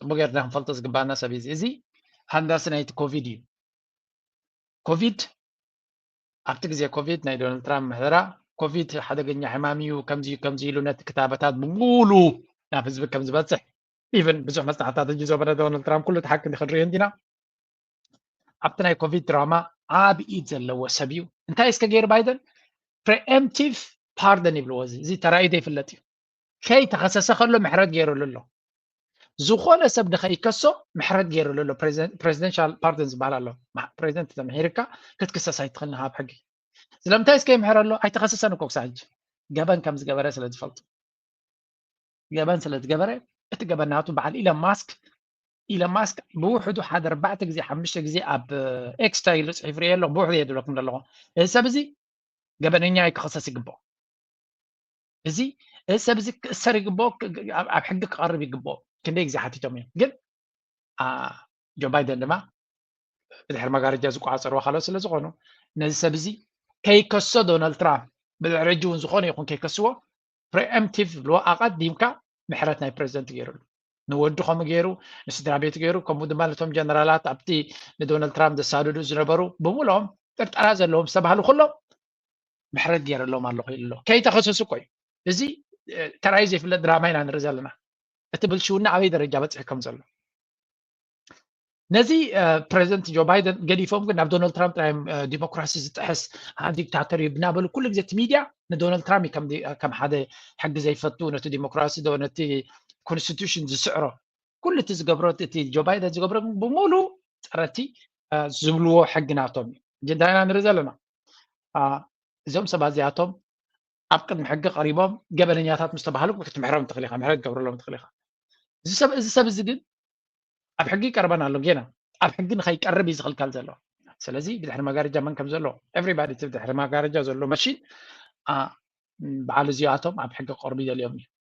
ፅቡቅ ጌርና ክንፈልጦ ዝግባኣና ሰብ እዩ እዚ ሃንዳሲ ናይቲ ኮቪድ እዩ ኮቪድ ኣብቲ ግዜ ኮቪድ ናይ ዶናልድ ትራምፕ ምሕደራ ኮቪድ ሓደገኛ ሕማም እዩ ከምዚ ከምዚ ኢሉ ነቲ ክታበታት ብሙሉ ናብ ህዝቢ ከም ዝበፅሕ ኢቨን ብዙሕ መፅናዕትታት እጅ ዘበረ ዶናልድ ትራምፕ ኩሉ ተሓቂ ክንሪኦ እንዲና ኣብቲ ናይ ኮቪድ ድራማ ዓብ ኢድ ዘለዎ ሰብ እዩ እንታይ እስከ ገይሩ ባይደን ፕሪኤምቲቭ ፓርደን ይብልዎ እዚ እዚ ተራእዩ ዘይፍለጥ እዩ ከይተኸሰሰ ከሎ ምሕረት ገይሩሉ ኣሎ ዝኾነ ሰብ ንኸይከሶ ምሕረት ገይሩሉ ኣሎ ፕሬዚደንሻል ፓርደን ዝበሃል ኣሎ ፕሬዚደንት ተምሒርካ ክትክሰስ ኣይትኽእልን ካብ ሕጊ ስለምንታይ እስከ ይምሕረ ኣሎ ኣይተኸሰሰን እኮ ክሳብ ሕጂ ገበን ከም ዝገበረ ስለ ዝፈልጡ ገበን ስለ ዝገበረ እቲ ገበን ናቱ በዓል ኢለን ማስክ ኢለን ማስክ ብውሕዱ ሓደ ኣርባዕተ ግዜ ሓሙሽተ ግዜ ኣብ ኤክስታ ኢሉ ፅሒፍ ርኤ ኣለኹ ብውሕዱ የድለኩም ዘለኹ እዚ ሰብ እዚ ገበነኛ እዩ ክኸሰስ ይግብኦ እዚ እዚ ሰብ እዚ ክእሰር ይግብኦ ኣብ ሕጊ ክቐርብ ይግብኦ ክንደይ ግዜ ሓቲቶም እዮም ግን ጆ ባይደን ድማ ብድሕሪ መጋረጃ ዝቆፃፀርዎ ካልኦት ስለ ዝኾኑ ነዚ ሰብ እዚ ከይከሶ ዶናልድ ትራምፕ ብድሕሪ ሕጂ እውን ዝኾነ ይኹን ከይከስዎ ፕሪኤምቲቭ ዝብልዎ ኣቐዲምካ ምሕረት ናይ ፕሬዚደንት ገይሩሉ ንወዱ ከምኡ ገይሩ ንስድራ ቤቱ ገይሩ ከምኡ ድማ ነቶም ጀነራላት ኣብቲ ንዶናልድ ትራምፕ ዘሳድዱ ዝነበሩ ብምልኦም ጥርጠራ ዘለዎም ዝተባሃሉ ኩሎም ምሕረት ገይረሎም ኣለኹ ኢሉ ኣሎ ከይተኸሰሱ እኮ እዩ እዚ ተራይ ዘይፍለጥ ድራማ ኢና ንርኢ ዘለና እቲ ብልሽውና ኣበይ ደረጃ በፅሒ ከም ዘሎ ነዚ ፕሬዚደንት ጆ ባይደን ገዲፎም ግን ናብ ዶናልድ ትራምፕ ጥራይ ዲሞክራሲ ዝጥሕስ ዲክታተር እዩ ብናበሉ ኩሉ ግዜ እቲ ሚድያ ንዶናልድ ትራምፕ ከም ሓደ ሕጊ ዘይፈቱ ነቲ ዲሞክራሲ ዶ ነቲ ኮንስቲቱሽን ዝስዕሮ ኩሉ እቲ ዝገብሮ እቲ ጆ ባይደን ዝገብሮ ብምሉ ፀረቲ ዝብልዎ ሕጊ ናቶም እዩ ዳይና ንርኢ ዘለና እዚኦም ሰባት እዚኣቶም ኣብ ቅድሚ ሕጊ ቀሪቦም ገበነኛታት ምስ ተባሃሉ ክትምሕሮም ትኽእል ኢኻ ምሕረት ገብረሎም ትኽእል ኢኻ እዚ ሰብ እዚ ሰብ እዚ ግን ኣብ ሕጊ ይቀርበን ኣሎ ጌና ኣብ ሕጊ ንኸይቀርብ እዩ ዝኽልከል ዘሎ ስለዚ ብድሕሪ መጋረጃ መን ከም ዘሎ ኤቨሪባዲ እቲ ብድሕሪ መጋረጃ ዘሎ መሽን በዓል እዚኣቶም ኣብ ሕጊ ክቀርቡ ይደልዮም እዩ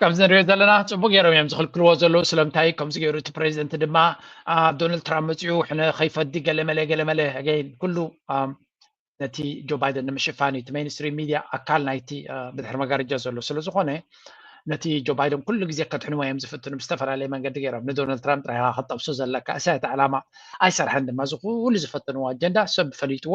ከምዚ ንሪኦ ዘለና ፅቡቅ ገይሮም እዮም ዝኽልክልዎ ዘለዉ ስለምንታይ ከምዚ ገይሩ እቲ ፕሬዚደንት ድማ ዶናልድ ትራምፕ መፂኡ ሕነ ከይፈዲ ገለመለ ገለመለ ኣገይን ኩሉ ነቲ ጆ ባይደን ንምሽፋን እዩ እቲ ሜንስትሪ ሚድያ ኣካል ናይቲ ብድሕሪ መጋረጃ ዘሎ ስለዝኾነ ነቲ ጆ ባይደን ኩሉ ግዜ ከድሕንዎ እዮም ዝፍትኑ ብዝተፈላለየ መንገዲ ገይሮም ንዶናልድ ትራምፕ ጥራይካ ከጠብሶ ዘለካ እሳ እቲ ዕላማ ኣይሰርሐን ድማ እዚ ኩሉ ዝፈተንዎ ኣጀንዳ ሰብ ፈሊጥዎ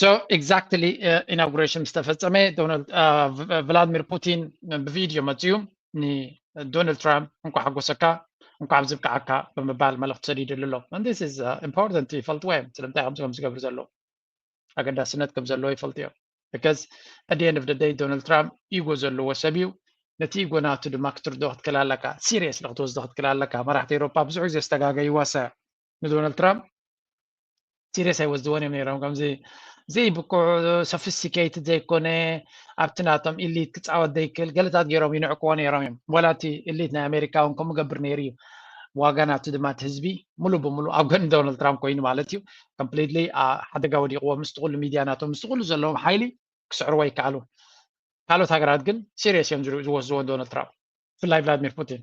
ሶ ኤግዛክትሊ ኢናጉሬሽን ምስ ተፈጸመ ዶናልድ ቭላድሚር ፑቲን ብቪድዮ መጺኡ ንዶናልድ ትራምፕ እንኳዕ ሓጎሰካ እንኳዕ ኣብዚ ብቅዓካ ብምባል መልእኽቲ ሰዲድሉ ኣሎ ስ ኢምፖርታንት ይፈልጥዎ እዮም ስለምንታይ ከምዚ ከም ዝገብሩ ዘለዉ ኣገዳስነት ከም ዘለዎ ይፈልጡ እዮም ብከዝ ኣደየን ኦፍ ደይ ዶናልድ ትራምፕ ኢጎ ዘለዎ ሰብ እዩ ነቲ ኢጎ ናቱ ድማ ክትርድኦ ክትክእል ኣለካ ሲሪየስ ንክትወስዶ ክትክእል ኣለካ መራሕቲ ኤሮፓ ብዙሕ ግዜ ዝተጋገይዋ ሰ ንዶናልድ ትራምፕ ሲሪየስ ኣይወስድዎን እዮም ነይሮም ከምዚ ዘይብቁዕ ሶፊስቲኬት ዘይኮነ ኣብቲ ናቶም ኢሊት ክፃወት ዘይክእል ገለታት ገይሮም ይንዕቅዎ ነይሮም እዮም ዋላ እቲ ኢሊት ናይ ኣሜሪካ እውን ከምኡ ገብር ነይሩ እዩ ዋጋ ናቱ ድማ እቲ ህዝቢ ሙሉ ብሙሉ ኣብ ጎኒ ዶናልድ ትራምፕ ኮይኑ ማለት እዩ ኮምፕሊትሊ ሓደጋ ወዲቕዎ ምስቲ ኩሉ ሚድያ ናቶም ምስቲ ኩሉ ዘለዎም ሓይሊ ክስዕርዎ ይከኣሉ ካልኦት ሃገራት ግን ሲሪየስ እዮም ዝወስድዎ ዶናልድ ትራምፕ ብፍላይ ቭላድሚር ፑቲን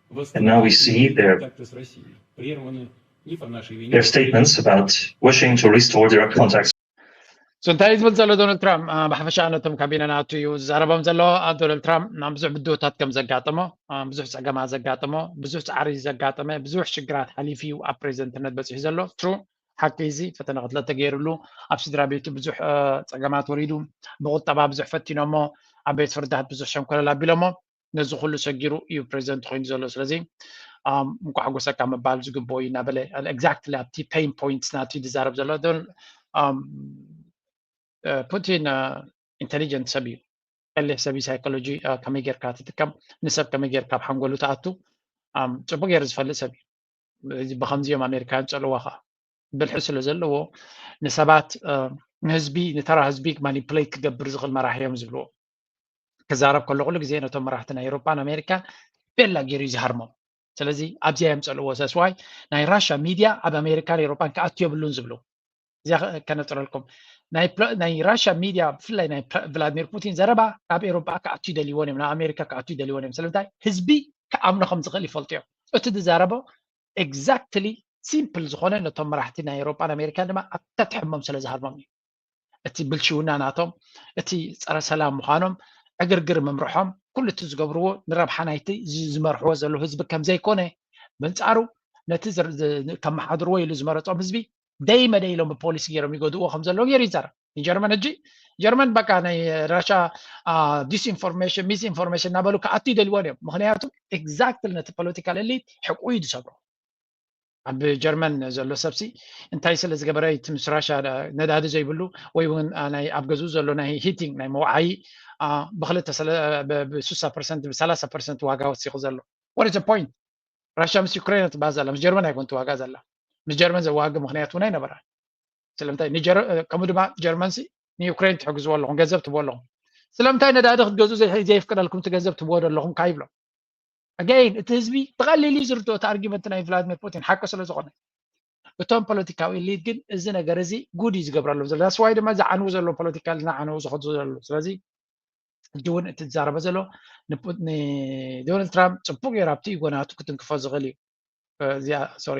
Now we see their their statements about wishing to restore direct contacts. So እንታይ ዝብል ዘሎ ዶናልድ ትራምፕ ብሓፈሻ ነቶም ካቢነ ናቱ እዩ ዝዛረቦም ዘሎ ዶናልድ ትራምፕ ናብ ብዙሕ ብድሆታት ከም ዘጋጠሞ ብዙሕ ፀገማ ዘጋጠሞ ብዙሕ ፃዕሪ ዘጋጠመ ብዙሕ ሽግራት ሓሊፉ እዩ ኣብ ፕሬዚደንትነት በፂሑ ዘሎ ትሩ ሓቂ እዚ ፈተነ ክትለ ተገይርሉ ኣብ ስድራ ቤቱ ብዙሕ ፀገማት ወሪዱ ብቁጠባ ብዙሕ ፈቲኖሞ ኣብ ቤት ፍርድታት ብዙሕ ሸንኮለል ኣቢሎሞ ነዚ ኩሉ ሰጊሩ እዩ ፕሬዚደንት ኮይኑ ዘሎ ስለዚ እንኳዕ ጎሰካ ምባል ዝግብ እዩ እናበለ ኤግዛክትሊ ኣብቲ ፔን ፖይንት ናቲ ዝዛረብ ዘሎ ፑቲን ኢንቴሊጀንት ሰብ እዩ ቀሊሕ ሰብ ሳይኮሎጂ ከመይ ጌርካ ትጥቀም ንሰብ ከመይ ጌርካ ኣብ ሓንጎሉ ትኣቱ ፅቡቅ ገይሩ ዝፈልጥ ሰብ እዩ ብከምዚ እዮም ኣሜሪካውያን ፀልዋ ከዓ ብልሒ ስለ ዘለዎ ንሰባት ንህዝቢ ንተራ ህዝቢ ማኒፕሌት ክገብር ዝኽእል መራሒ እዮም ዝብልዎ ክዛረብ ከሎ ኩሉ ግዜ ነቶም መራሕቲ ናይ ኤሮጳን ኣሜሪካን ቤላ ገይሩ እዩ ዝሃርሞም ስለዚ ኣብዚኣ እዮም ፀልዎ ሰስዋይ ናይ ራሻ ሚድያ ኣብ ኣሜሪካን ኤሮጳን ክኣቱ የብሉን ዝብሉ እዚያ ከነፅረልኩም ናይ ራሻ ሚድያ ብፍላይ ናይ ቭላድሚር ፑቲን ዘረባ ካብ ኤሮጳ ክኣቱ ይደልይዎን እዮም ናብ ኣሜሪካ ክኣቱ ይደልይዎን እዮም ስለምንታይ ህዝቢ ክኣምኖ ከም ዝኽእል ይፈልጡ እዮም እቲ ዝዛረቦ ኤግዛክትሊ ሲምፕል ዝኾነ ነቶም መራሕቲ ናይ ኤሮጳን ኣሜሪካን ድማ ኣብ ተትሕሞም ስለ ዝሃርሞም እዩ እቲ ብልሽውና ናቶም እቲ ፀረ ሰላም ምዃኖም ዕግርግር ምምርሖም ኩሉ እቲ ዝገብርዎ ንረብሓ ናይቲ ዝመርሕዎ ዘለዉ ህዝቢ ከም ዘይኮነ በንጻሩ ነቲ ከመሓድርዎ ኢሉ ዝመረፆም ህዝቢ ደይ መደይ ኢሎም ብፖሊሲ ገይሮም ይገድእዎ ከም ዘለዉ ገይሩ ይዛረብ ንጀርመን ሕጂ ጀርመን በቃ ናይ ራሻ ዲስኢንፎርሜሽን ሚስ ኢንፎርሜሽን እናበሉ ክኣቱ ይደልዎን እዮም ምክንያቱ ኤግዛክትሊ ነቲ ፖለቲካል ኤሊት ሕቁ እዩ ዝሰብሮ ኣብ ጀርመን ዘሎ ሰብሲ እንታይ ስለ ዝገበረ እቲ ምስ ራሻ ነዳዲ ዘይብሉ ወይ እውን ናይ ኣብ ገዙ ዘሎ ናይ ሂቲንግ ናይ መውዓዪ ብክልተ ብስሳ ፐርሰንት ብሰላሳ ፐርሰንት ዋጋ ወሲኹ ዘሎ ወደ ዘ ፖይንት ራሻ ምስ ዩክሬን ትባ ዘላ ምስ ጀርመን ኣይኮን ዋጋ ዘላ ምስ ጀርመን ዘዋግ ምክንያት እውን ኣይነበራ ስለምንታይ ከምኡ ድማ ጀርመን ሲ ንዩክሬን ትሕግዝዎ ኣለኹም ገንዘብ ትቦ ኣለኹም ስለምንታይ ነዳዲ ክትገዙ ዘየፍቅደልኩም እቲ ገንዘብ ትቦ ዶ ኣለኹም ካይብሎም ኣገይን እቲ ህዝቢ ብቐሊል እዩ ዝርድኦ እቲ ኣርጊመንት ናይ ቭላድሚር ፑቲን ሓቂ ስለ ዝኾነ እቶም ፖለቲካዊ ሊድ ግን እዚ ነገር እዚ ጉድ እዩ ዝገብረሎም ዘሎ ዳስዋይ ድማ ዝዓንው ዘሎ ፖለቲካ ዝናዓነው ዝኸዱ ዘሎ ስለዚ ሕጂ እውን እቲ ዝዛረበ ዘሎ ንዶናልድ ትራምፕ ፅቡቅ ገይሩ ኣብቲ ጎናቱ ክትንክፎ ዝኽእል እዩ እዚኣ ሶሪ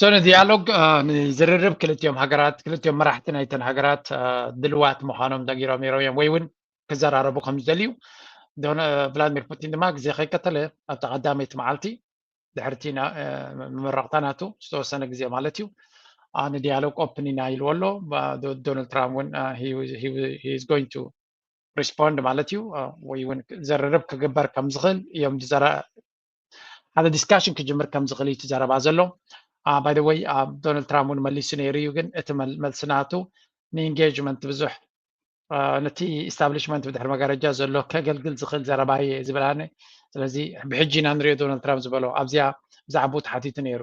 ሶኒ ዲያሎግ ንዝርርብ ክልቲኦም ሃገራት ክልቲኦም መራሕቲ ናይተን ሃገራት ድልዋት ምዃኖም ነጊሮም ነይሮም እዮም ወይ እውን ክዘራረቡ ከም ዝደልዩ ቭላድሚር ፑቲን ድማ ግዜ ከይቀተለ ኣብቲ ቀዳመይቲ መዓልቲ ድሕርቲ መመረቕታ ናቱ ዝተወሰነ ግዜ ማለት እዩ ንዲያሎግ ኦፕን ኢና ኢልዎ ኣሎ ዶናልድ ትራምፕ እውን ሂዝ ጎይንቱ ሪስፖንድ ማለት እዩ ወይ እውን ዘረረብ ክግበር ከም ዝኽእል እዮም ሓደ ዲስካሽን ክጅምር ከም ዝኽእል እዩ ትዘረባ ዘሎ ባይ ወይ ዶናልድ ትራምፕ እውን መሊሱ ነይሩ እዩ ግን እቲ መልሲ ናቱ ንኢንጌጅመንት ብዙሕ ነቲ ኢስታብሊሽመንት ብድሕሪ መጋረጃ ዘሎ ከገልግል ዝኽእል ዘረባ እየ ዝብል ኣነ ስለዚ ብሕጂ ኢና ንሪኦ ዶናልድ ትራምፕ ዝበሎ ኣብዚኣ ብዛዕባኡ ተሓቲቱ ነይሩ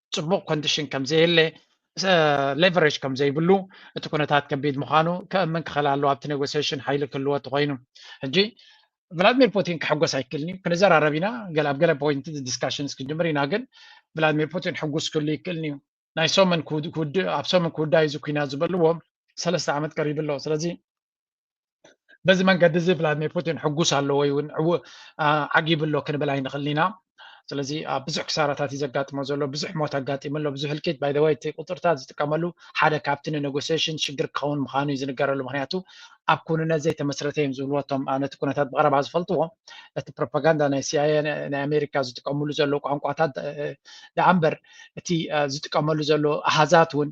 ፅቡቕ ኮንዲሽን ከምዘየለ ሌቨሬጅ ከም ዘይብሉ እቲ ኩነታት ከቢድ ምዃኑ ከእምን ክኽእል ኣለዎ ኣብቲ ኔጎሲሽን ሓይሊ ክህልዎ ተኮይኑ ሕጂ ቭላድሚር ፑቲን ክሕጎስ ኣይክእልን እዩ ክንዘራረብ ኢና ገለ ኣብ ገለ ፖይንት ዲስካሽንስ ክንጅምር ኢና ግን ቭላድሚር ፑቲን ሕጉስ ክህሉ ይክእልን እዩ ናይ ሰሙን ኣብ ሰሙን ክውዳእ እዚ ኩናት ዝበልዎ ሰለስተ ዓመት ቀሪቡ ኣሎ ስለዚ በዚ መንገዲ እዚ ቭላድሚር ፑቲን ሕጉስ ኣሎ ወይ እውን ዓጊቡ ኣሎ ክንብል ኣይንኽእል ኢና ስለዚ ኣብ ብዙሕ ክሳራታት እዩ ዘጋጥሞ ዘሎ ብዙሕ ሞት ኣጋጢሙ ኣሎ ብዙሕ ህልቂት ባይደወይ እቲ ቁፅርታት ዝጥቀመሉ ሓደ ካብቲ ንኔጎሲሽን ሽግር ክኸውን ምዃኑ እዩ ዝንገረሉ ምክንያቱ ኣብ ክውንነት ዘይተመስረተ እዮም ዝብልዎ እቶም ነቲ ኩነታት ብቐረባ ዝፈልጥዎ እቲ ፕሮፓጋንዳ ናይ ሲኣየ ናይ ኣሜሪካ ዝጥቀምሉ ዘሎ ቋንቋታት ደኣ እምበር እቲ ዝጥቀመሉ ዘሎ ኣሃዛት እውን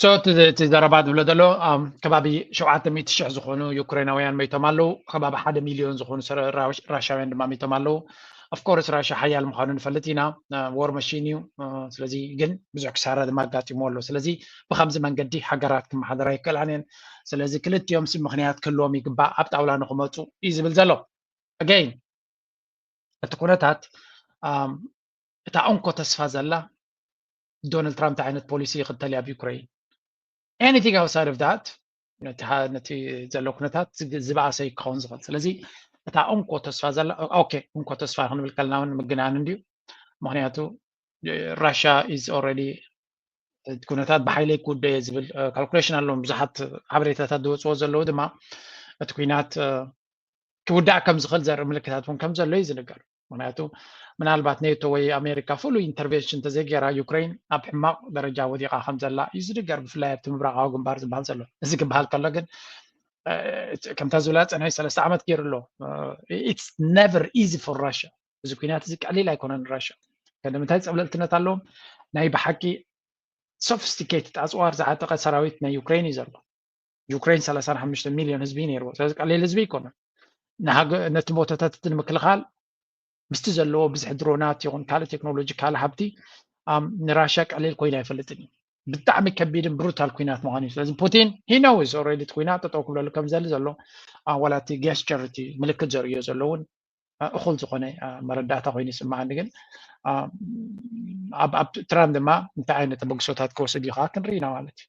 ሶ እቲ ዘረባ ዝብሎ ዘሎ ከባቢ ሸውዓተ ሚእቲ ሽሕ ዝኾኑ ዩክሬናውያን መይቶም ኣለዉ ከባቢ ሓደ ሚልዮን ዝኾኑ ራሻውያን ድማ መይቶም ኣለዉ ኣፍኮርስ ራሻ ሓያል ምዃኑ ንፈልጥ ኢና ዎር መሽን እዩ ስለዚ ግን ብዙሕ ክሳራ ድማ ኣጋጢምዎ ኣሎ ስለዚ ብከምዚ መንገዲ ሃገራት ክመሓደራ ይከላን እየን ስለዚ ክልቲኦም ሲ ምክንያት ክህልዎም ይግባእ ኣብ ጣውላ ንክመፁ እዩ ዝብል ዘሎ ኣገይን እቲ ኩነታት እታ እንኮ ተስፋ ዘላ ዶናልድ ትራምፕ እንታይ ዓይነት ፖሊሲ ይኽተል ኣብ ዩክረይን ኤኒቲንግ ኣውትሳይድ ኦፍ ዳት ነቲ ዘሎ ኩነታት ዝበኣሰ እዩ ክኸውን ዝኽእል ስለዚ እታ እንኮ ተስፋ ዘላ ኦኬ እንኮ ተስፋ ክንብል ከለና እውን ምግናን እንድዩ ምክንያቱ ራሽያ ኢዝ ኦልሬዲ ኩነታት ብሓይለይ ክውደ እየ ዝብል ካልኩሌሽን ኣለዎም ብዙሓት ሓበሬታታት ዝወፅዎ ዘለዉ ድማ እቲ ኩናት ክውዳእ ከም ዝኽእል ዘርኢ ምልክታት እውን ከም ዘሎ እዩ ዝንገር ምክንያቱ ምናልባት ኔቶ ወይ ኣሜሪካ ፍሉይ ኢንተርቨንሽን እንተዘይገይራ ዩክሬን ኣብ ሕማቕ ደረጃ ወዲቓ ከም ዘላ እዩ ዝድገር ብፍላይ ኣብቲ ምብራቃዊ ግንባር ዝበሃል ዘሎ እዚ ክበሃል ከሎ ግን ከምታ ዝብላ ፀንሒ ሰለስተ ዓመት ገይሩ ኣሎ ኢትስ ነቨር ኢዚ ፎር ራሽያ እዚ ኩናት እዚ ቀሊል ኣይኮነን ራሽያ ከደምንታይ ፀብለልትነት ኣለዎም ናይ ብሓቂ ሶፊስቲኬትድ ኣፅዋር ዝዓጠቀ ሰራዊት ናይ ዩክሬን እዩ ዘሎ ዩክሬን ሰላሳን ሓሙሽተ ሚልዮን ህዝቢ ነይርዎ ስለዚ ቀሊል ህዝቢ ኣይኮነን ነቲ ቦታታት እቲ ንምክልኻል ምስቲ ዘለዎ ብዝሒ ድሮናት ይኹን ካልእ ቴክኖሎጂ ካልእ ሃብቲ ንራሽያ ቀሊል ኮይኑ ኣይፈልጥን እዩ ብጣዕሚ ከቢድን ብሩታል ኩናት ምዃኑ እዩ ስለዚ ፑቲን ሂነውስ ኦረዲ እቲ ኩናት ጠጠው ክብለሉ ከም ዘሊ ዘሎ ዋላ እቲ ጌስቸር እቲ ምልክት ዘርእዮ ዘሎ እውን እኹል ዝኾነ መረዳእታ ኮይኑ ይስምዓኒ ግን ኣብ ትራን ድማ እንታይ ዓይነት ተበግሶታት ክወስድ እዩ ከዓ ክንርኢ ኢና ማለት እዩ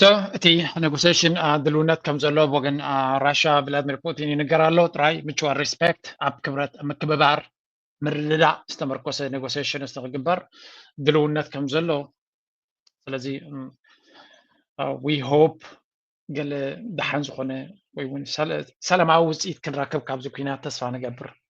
ሶ እቲ ኔጎሴሽን ድልውነት ከም ዘሎ ኣብ ወገን ራሻ ቭላድሚር ፑቲን ይንገር ኣሎ ጥራይ ምቹዋል ሪስፔክት ኣብ ክብረት ምክብባር ምርድዳእ ዝተመርኮሰ ኔጎሴሽን እስቲ ክግበር ድልውነት ከም ዘሎ ስለዚ ዊ ሆፕ ገለ ደሓን ዝኾነ ወይ እውን ሰላማዊ ውፅኢት ክንረክብ ካብዚ ኩናት ተስፋ ንገብር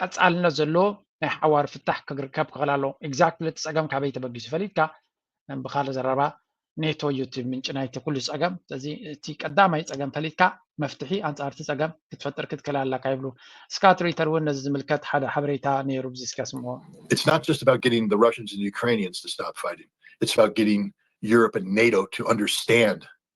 ቀፃልነት ዘለዎ ናይ ሓዋር ፍታሕ ክርከብ ክኽእል ኣለዎ። ኤግዛክትሊ እቲ ፀገም ካበይ ተበጊሱ ፈሊጥካ ብካልእ ዘረባ ኔቶ እዩ እቲ ምንጪ ናይቲ ኩሉ ፀገም ስለዚ እቲ ቀዳማይ ፀገም ፈሊጥካ መፍትሒ ኣንፃር እቲ ፀገም ክትፈጥር ክትክእል ኣለካ ይብሉ ስካት ሪተር እውን ነዚ ዝምልከት ሓደ ሓበሬታ ነይሩ ብዚ እስከ ስምዖ It's not just about getting the Russians and Ukrainians to stop fighting. It's about getting Europe and NATO to understand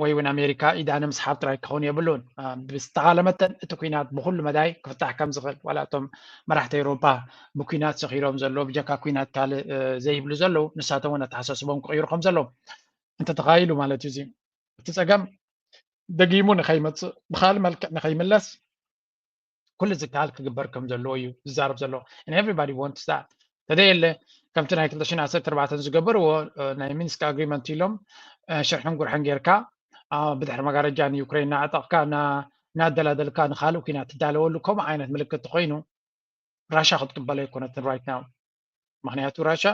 ወይ እውን ኣሜሪካ ኢዳ ንምስሓብ ጥራይ ክኸውን የብሉን። ብዝተኻለ መጠን እቲ ኩናት ብኩሉ መዳይ ክፍታሕ ከም ዝኽእል ዋላ እቶም መራሕቲ ኤውሮፓ ብኩናት ሰኺሮም ዘለዉ ብጀካ ኩናት ካልእ ዘይብሉ ዘለዉ ንሳቶም እውን ኣተሓሳስቦም ክቕይሩ ከም ዘለዎም እንተተኻኢሉ ማለት እዩ እዚ እቲ ጸገም ደጊሙ ንኸይመጽእ ብካልእ መልክዕ ንኸይምለስ ኩሉ ዝከኣል ክግበር ከም ዘለዎ እዩ ዝዛረብ ዘሎ ኤቨሪባዲ ወንትስ ዛት ተደየለ ከምቲ ናይ 214 ዝገበርዎ ናይ ሚንስክ ኣግሪመንት ኢሎም ሽርሕን ጉርሕን ጌርካ ብድሕሪ መጋረጃ ንዩክሬን ናዕጠቕካ ናደላደልካ ንካልእ ኩናት ትዳለወሉ ከምኡ ዓይነት ምልክት ኮይኑ ራሻ ክትቅበሎ ኣይኮነትን ራይት ናው ምክንያቱ ራሻ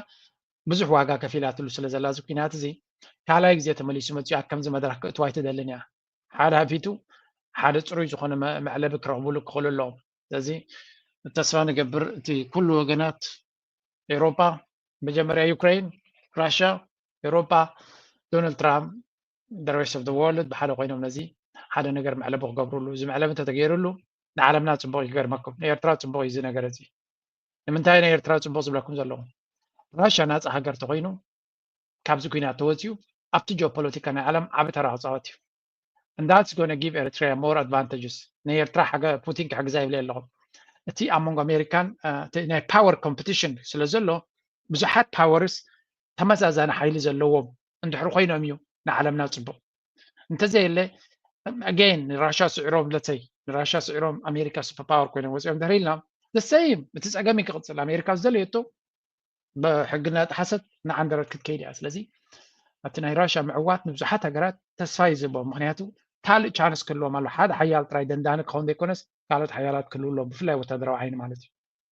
ብዙሕ ዋጋ ከፊላትሉ ስለ ዘላ እዚ ኩናት እዚ ካልኣይ ግዜ ተመሊሱ መፅኡ ኣብ ከምዚ መድረክ ክእትዋ ኣይትደልን እያ ሓደ ሃፊቱ ሓደ ፅሩይ ዝኾነ መዕለቢ ክረኽብሉ ክኽእሉ ኣለዎም ስለዚ ተስፋ ንገብር እቲ ኩሉ ወገናት ኤሮፓ መጀመርያ ዩክሬን ራሻ ኤሮፓ ዶናልድ ትራምፕ ደረስ ኦፍ ወርልድ ብሓደ ኮይኖም ነዚ ሓደ ነገር መዕለቢ ክገብርሉ እዚ መዕለቢ እንተተገይርሉ ንዓለምና ፅቡቅ ይገርመኩም ንኤርትራ ፅቡቅ እዩ እዚ ነገር እዚ ንምንታይ ናይ ኤርትራ ጽቡቕ ዝብለኩም ዘለኹ ራሻ ናጻ ሃገር ተኾይኑ ካብዚ ኩናት ተወጺኡ ኣብቲ ጂኦፖለቲካ ናይ ዓለም ዓቢ ተራ ክጻወት እዩ እንዳት ጎነ ጊቭ ኤርትሪያ ሞር ኣድቫንቴጅስ ናይ ኤርትራ ሓገ ፑቲን ክሕግዛ ይብለ ኣለኹ እቲ ኣብ መንጎ ኣሜሪካን ናይ ፓወር ኮምፒቲሽን ስለ ዘሎ ብዙሓት ፓወርስ ተመዛዛኒ ሓይሊ ዘለዎም እንድሕር ኮይኖም እዩ ንዓለምና ጽቡቕ እንተዘየለ ኣገይን ንራሻ ስዒሮም ለተይ ንራሻ ስዒሮም ኣሜሪካ ሱፐር ፓወር ኮይኖም ወፂኦም ድሕሪ ኢልና ዘሰይም እቲ ፀገም እዩ ክቕፅል ኣሜሪካ ዝደለየቶ ብሕጊ እናጠሓሰት ንዓንደረት ክትከይድ እያ ስለዚ እቲ ናይ ራሻ ምዕዋት ንብዙሓት ሃገራት ተስፋ እዩ ዝህቦ ምክንያቱ ካልእ ቻንስ ክህልዎም ኣሎ ሓደ ሓያል ጥራይ ደንዳኒ ክኸውን ዘይኮነስ ካልኦት ሓያላት ክህልው ኣሎ ብፍላይ ወታደራዊ ዓይኒ ማለት እዩ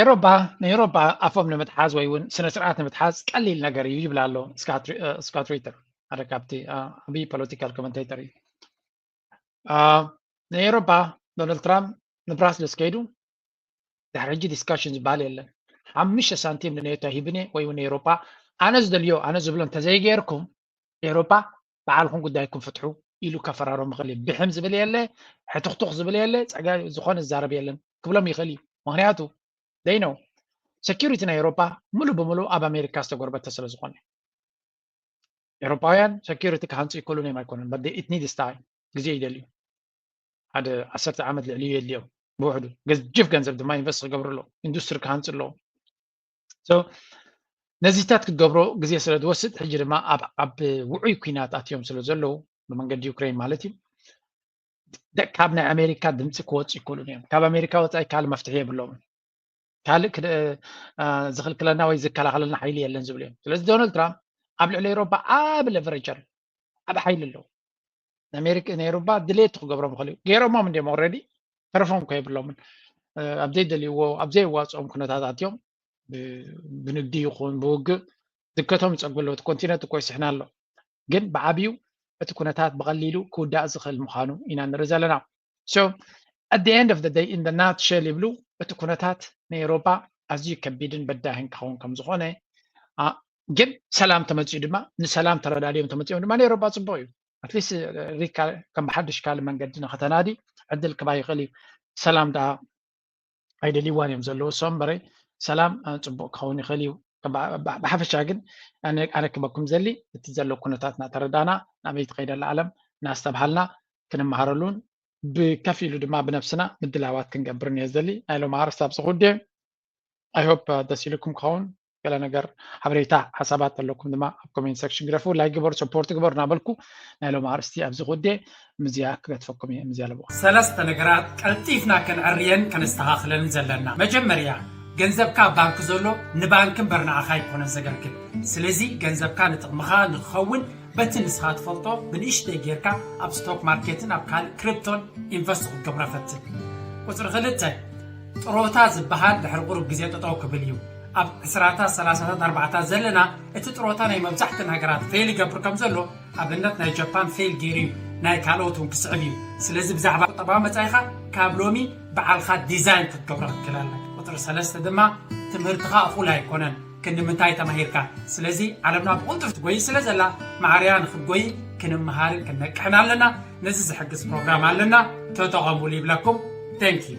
ኤሮፓ ንኤሮፓ ኣፎም ንምትሓዝ ወይ እውን ስነ ስርዓት ንምትሓዝ ቀሊል ነገር እዩ ይብላ ኣሎ ስካት ሪተር ሓደ ካብቲ ዓብዪ ፖለቲካል ኮመንቴተር እዩ ንኤሮፓ ዶናልድ ትራምፕ ንብራስልስ ከይዱ ድሕሪ ሕጂ ዲስካሽን ዝበሃል የለን ሓሙሽተ ሳንቲም ንኔቶ ሂብኒ ወይ እውን ንኤሮፓ ኣነ ዝደልዮ ኣነ ዝብሎ እንተዘይገይርኩም ኤሮፓ ባዕልኹም ጉዳይኩም ፍትሑ ኢሉ ከፈራሮም ይኽእል እዩ ብሕም ዝብል የለ ሕትኽቱኽ ዝብል የለ ፀጋ ዝኾነ ዝዛረብ የለን ክብሎም ይኽእል እዩ ምክንያቱ ዘይነው ሴኪሪቲ ናይ ኤሮፓ ሙሉእ ብምሉእ ኣብ ኣሜሪካ ዝተጎርበተ ስለ ዝኾነ ኤሮፓውያን ሴኪሪቲ ክሃንፁ ይክእሉን እዮም ኣይኮነን በት ኢት ኒድስ ታይም ግዜ ይደልዩ ሓደ ዓሰርተ ዓመት ልዕሊ የድልዮም ብውሕዱ ገጅፍ ገንዘብ ድማ ኢንቨስት ክገብሩ ኣለዎ ኢንዱስትሪ ክሃንፁ ኣለዎም ነዚታት ክትገብሮ ግዜ ስለ ዝወስድ ሕጂ ድማ ኣብ ውዑይ ኩናት ኣትዮም ስለ ዘለዉ ብመንገዲ ዩክሬን ማለት እዩ ካብ ናይ ኣሜሪካ ድምፂ ክወፁ ይክእሉን እዮም ካብ ኣሜሪካ ወፃኢ ካልእ መፍትሒ የብሎምን ካልእ ዝኽልክለና ወይ ዝከላኸለልና ሓይሊ የለን ዝብሉ እዮም ስለዚ ዶናልድ ትራምፕ ኣብ ልዕሊ ኤሮፓ ዓብ ለቨረጀር ዓብ ሓይሊ ኣለዎ ንኣሜሪካ ነይሩባ ድሌቱ ክገብሮም ይኽእል እዩ ገይሮሞም እንዲም ኦረዲ ተረፎም ኮ የብሎምን ኣብ ዘይደልይዎ ኣብ ዘየዋፅኦም ኩነታታት እዮም ብንግዲ ይኹን ብውግእ ዝከቶም ይፀጉ ኣለዉ እቲ ኮንቲነንት እኮ ይስሕና ኣሎ ግን ብዓብዩ እቲ ኩነታት ብቐሊሉ ክውዳእ ዝኽእል ምዃኑ ኢና ንርኢ ዘለና ሶ ኣት ዘ ኤንድ ኦፍ ዘ ደይ ኢን ዘ ናት ሸል ይብሉ እቲ ኩነታት ናይ ኤሮጳ ኣዝዩ ከቢድን በዳህን ክኸውን ከም ዝኾነ ግን ሰላም ተመፂኡ ድማ ንሰላም ተረዳድዮም ተመፂኦም ድማ ናይ ኤሮጳ ፅቡቅ እዩ ኣትሊስት ሪካ ከም ብሓድሽ ካልእ መንገዲ ንክተናዲ ዕድል ክባ ይኽእል እዩ ሰላም ደኣ ኣይደልይዋን እዮም ዘለዉ እሶም በረይ ሰላም ፅቡቅ ክኸውን ይኽእል እዩ ብሓፈሻ ግን ኣነ ክበኩም ዘሊ እቲ ዘሎ ኩነታት እናተረዳና ናበይ ትኸይደ ኣላ ዓለም እናስተብሃልና ክንመሃረሉን ብከፍ ኢሉ ድማ ብነብስና ምድላዋት ክንገብርን እየ ዘሊ ናይ ሎም ሃርስታብ ዝኹዴ ኣይሆፕ ደስ ኢሉኩም ክኸውን ገለ ነገር ሓበሬታ ሓሳባት ዘለኩም ድማ ኣብ ኮሜንት ሰክሽን ግደፉ ላይ ግበሩ ሰፖርት ግበሩ እናበልኩ ናይ ሎም ኣርእስቲ ኣብዚ ኩዴ ምዝያ ክገትፈኩም እየ ምዝያ ኣለዎ ሰለስተ ነገራት ቀልጢፍና ከንዕርየን ከነስተኻኽለን ዘለና መጀመርያ ገንዘብካ ኣብ ባንኪ ዘሎ ንባንኪ እምበር ንዓኻ ኣይኮነን ዘገልግል ስለዚ ገንዘብካ ንጥቕምኻ ንክኸውን በቲ ንስኻ ትፈልጦ ብንእሽተይ ጌርካ ኣብ ስቶክ ማርኬትን ኣብ ካልእ ክሪፕቶን ኢንቨስት ክትገብሮ ፈትን ቁፅሪ ክልተ ጥሮታ ዝበሃል ድሕሪ ቁሩብ ግዜ ጠጠው ክብል እዩ። ኣብ ዕስራታት ሰላሳታት ኣርባዓታት ዘለና እቲ ጥሮታ ናይ መብዛሕተን ሃገራት ፌል ይገብር ከም ዘሎ ኣብነት ናይ ጀፓን ፌል ገይሩ እዩ ናይ ካልኦት እውን ክስዕብ እዩ ስለዚ ብዛዕባ ቁጠባዊ መጻኢኻ ካብ ሎሚ ብዓልኻ ዲዛይን ክትገብሮ ክትክእል ኣለካ ቁጽሪ ሰለስተ ድማ ትምህርትኻ እኹል ኣይኮነን ክንዲ ምንታይ ተማሂርካ? ስለዚ ዓለምና ብቕልጡፍ ትጎይይ ስለ ዘላ ማዕሪያ ንክትጎይይ ክንመሃርን ክንነቅሕን ኣለና። ነዚ ዝሕግዝ ፕሮግራም ኣለና ተጠቐሙሉ ይብለኩም። Thank you።